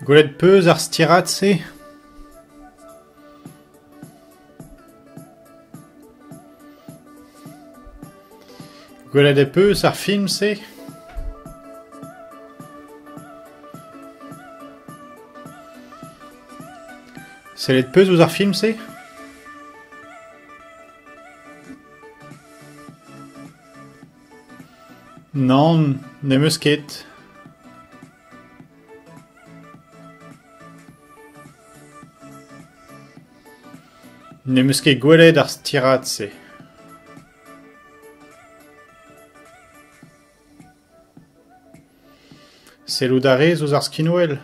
Gwelet 'peus ar stirad-se ? Gwelet e peus ar film-se ? Sellet 'peus ouzh ar film-se ? Nann, ne'm eus ket. Ne'm eus ket gwelet ar stirad-se. Sellout a rez ouzh ar skinwel ?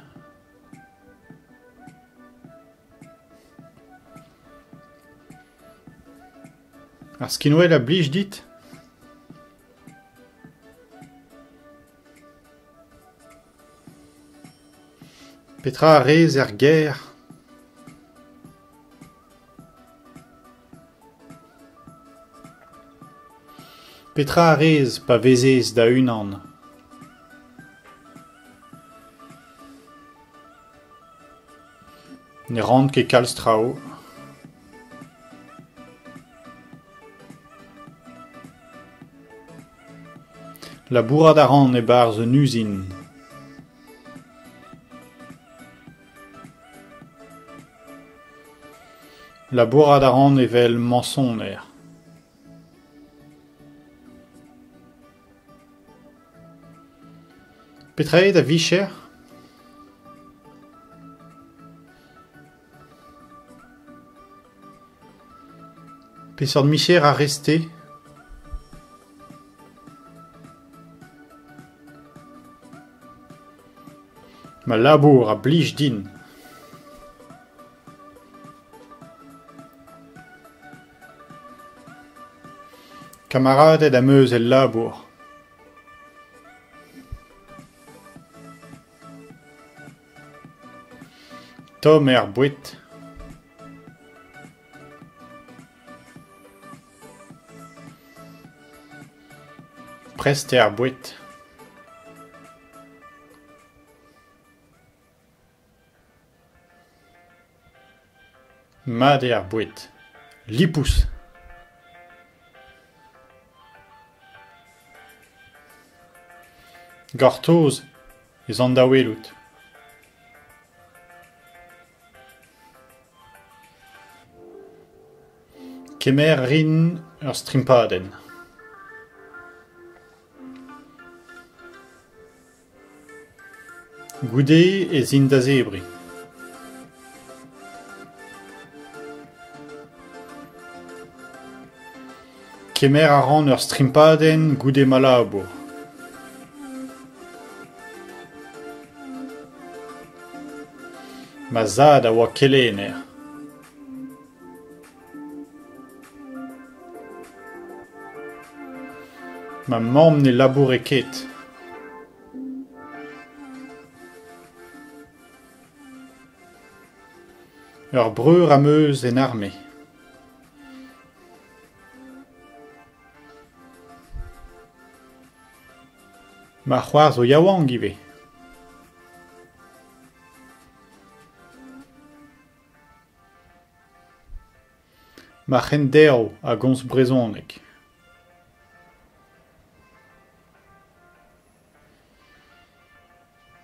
Ar skinwel a blij dit ? Petra a rez er gêr ? Petra a rez pa vezez da-unan ? Ne ran ket kalz traoù. Labourat a ran e-barzh un uzin. Labourat a ran evel mañsoner. Petra eo da vicher ? Peseurt micher a rez-te ? Ma labour a blij din. Kamaraded am eus el labour. Tomm er boued. Prest eo ar boued. Mat eo ar boued. Lipous. Gortoz ez an da welout. Kemer a rin ur strimpadenn. Goude ez in da zebriñ. Kemer a ran ur strimpadenn goude ma labour. Ma zad a oa kelenner. Ma mamm ne laboure ket. Ur breur am eus en arme. Ma c'hoar zo yaouank ivez. Ma c'henderv a gomz brezhoneg.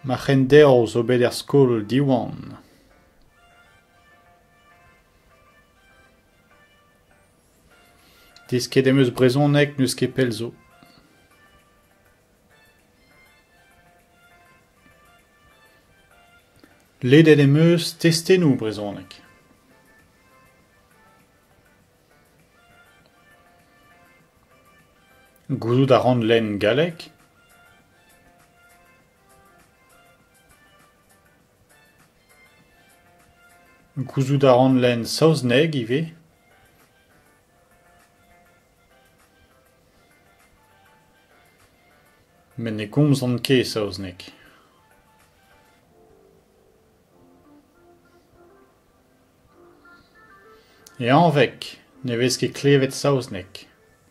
Ma c'henderv zo bet er skol Diwan. Desket em eus brezhoneg n'eus ket pell zo. Ledet em eus testennoù brezhoneg. Gouzout a ran lenn galleg. Gouzout a ran lenn saozneg ivez. Met ne gomzan ket saozneg. E anveg ne vez ket klevet saozneg.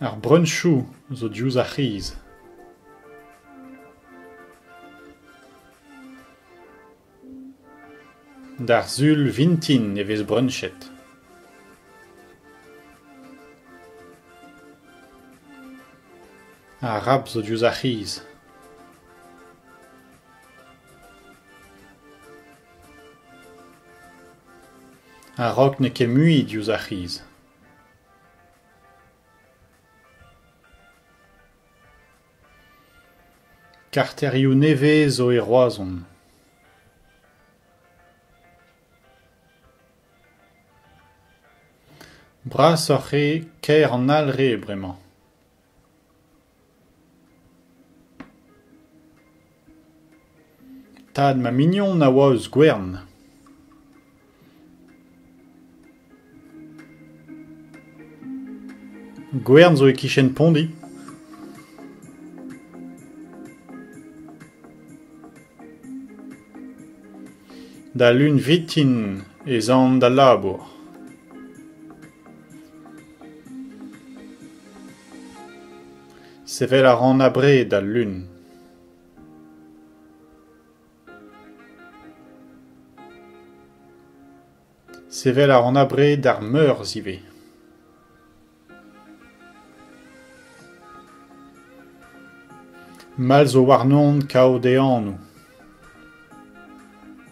Ar breuñsoù zo diouzh ar c'hiz. D'ar sul vintin e vez breunchet. Ar rab zo diouzh ar c'hiz. A-raok n'eo ket mui diouzh ar c'hiz. Karterioù nevez zo e Roazhon. Brasoc'h eo kaer an Alre bremañ. Tad ma mignon a oa eus Gwern. Gwern zo e-kichen Pondi. Da lun vintin ez an d'al labour. Sevel a ran abred al lun. Sevel a ran abred ar Meurzh ivez. Mall zo warnon kaout e anv.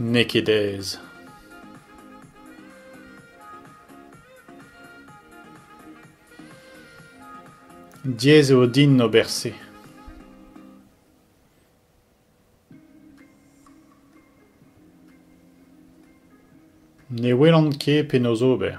N'eo ket aes. Diaes eo din ober se. Ne welan ket penaos ober.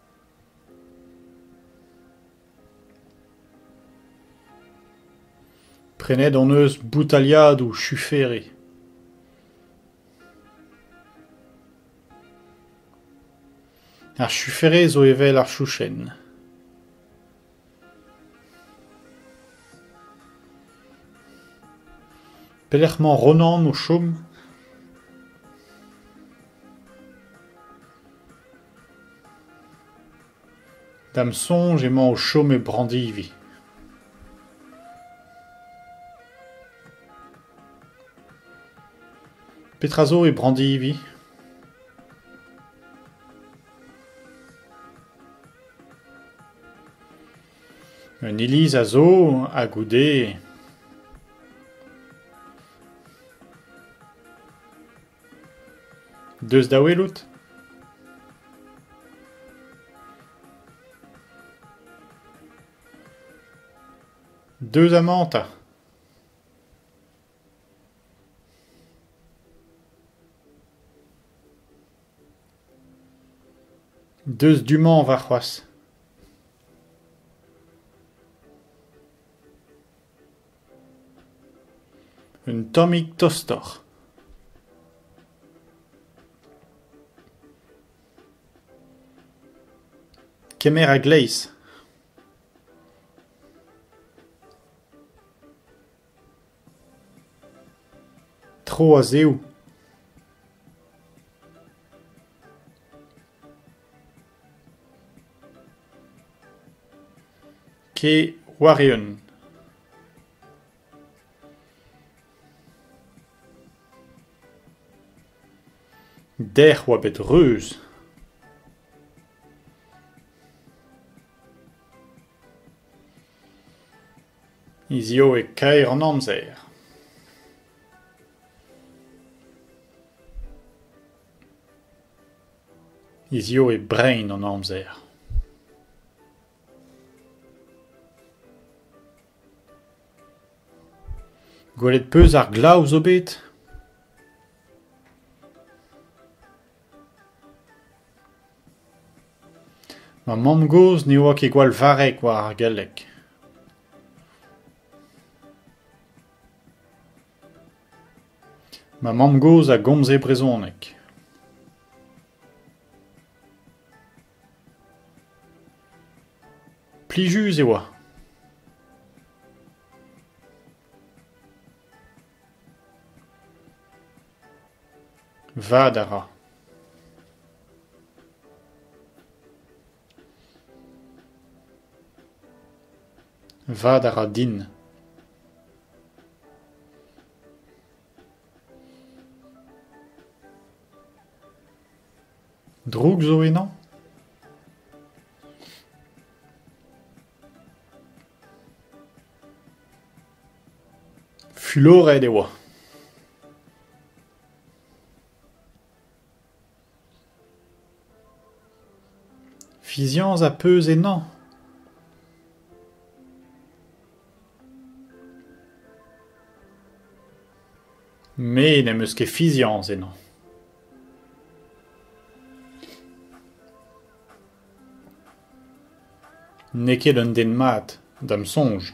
Prenet hon eus boutaliadoù chufere. Ar chufere zo evel ar chouchenn. Pelec'h emañ Ronan o chom ? D'am soñj emañ o chom e Brandivi. Petra zo e Brandivi ? Un iliz a zo ha goude eo. Deus da welout ? Deus amañ 'ta. Deus du-mañ warc'hoazh. Un tammig tostoc'h. Kemer a-gleiz. Tro a-zehoù. Kee war-eeun. Dec'h oa bet reuz. Hiziv eo kaer an amzer. Hiziv eo brein an amzer. Gwelet 'peus ar glav zo bet ? Ma mamm-gozh ne oa ket gwall varrek war ar galleg. Ma mamm-gozh a gomze brezhoneg. Plijus e oa. Vad a ra. Vad a ra din. Droug zo ennañ? Fuloret e oa. Fiziañs a peus ennañ ? Me n'em eus ket fiziañs ennañ. N'eo ket un den mat, da'm soñj.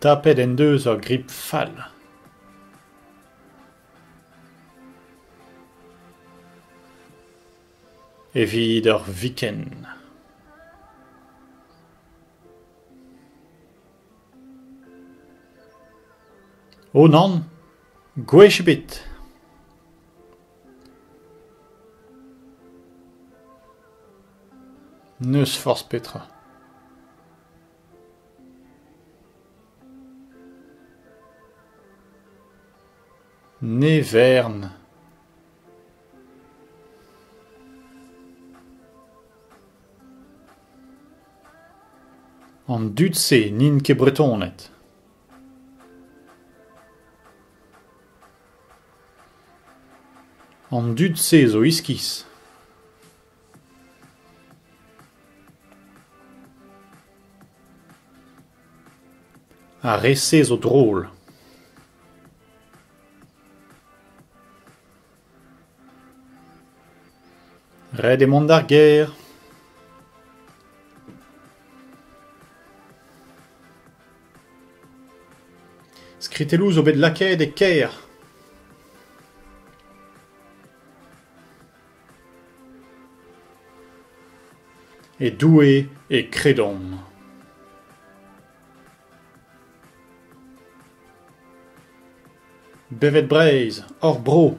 Tapet en deus ur grip fall. Evit ur viken. O nann, gwech ebet. N'eus forzh petra. Ne vern. An dud-se n'int ket Bretoned. An dud-se zo iskis. Ar re-se zo drol. Ret eo mont d'ar gêr. Skritelloù zo bet lakaet e kêr. E Doue e kredomp. Bevet Breizh, hor bro!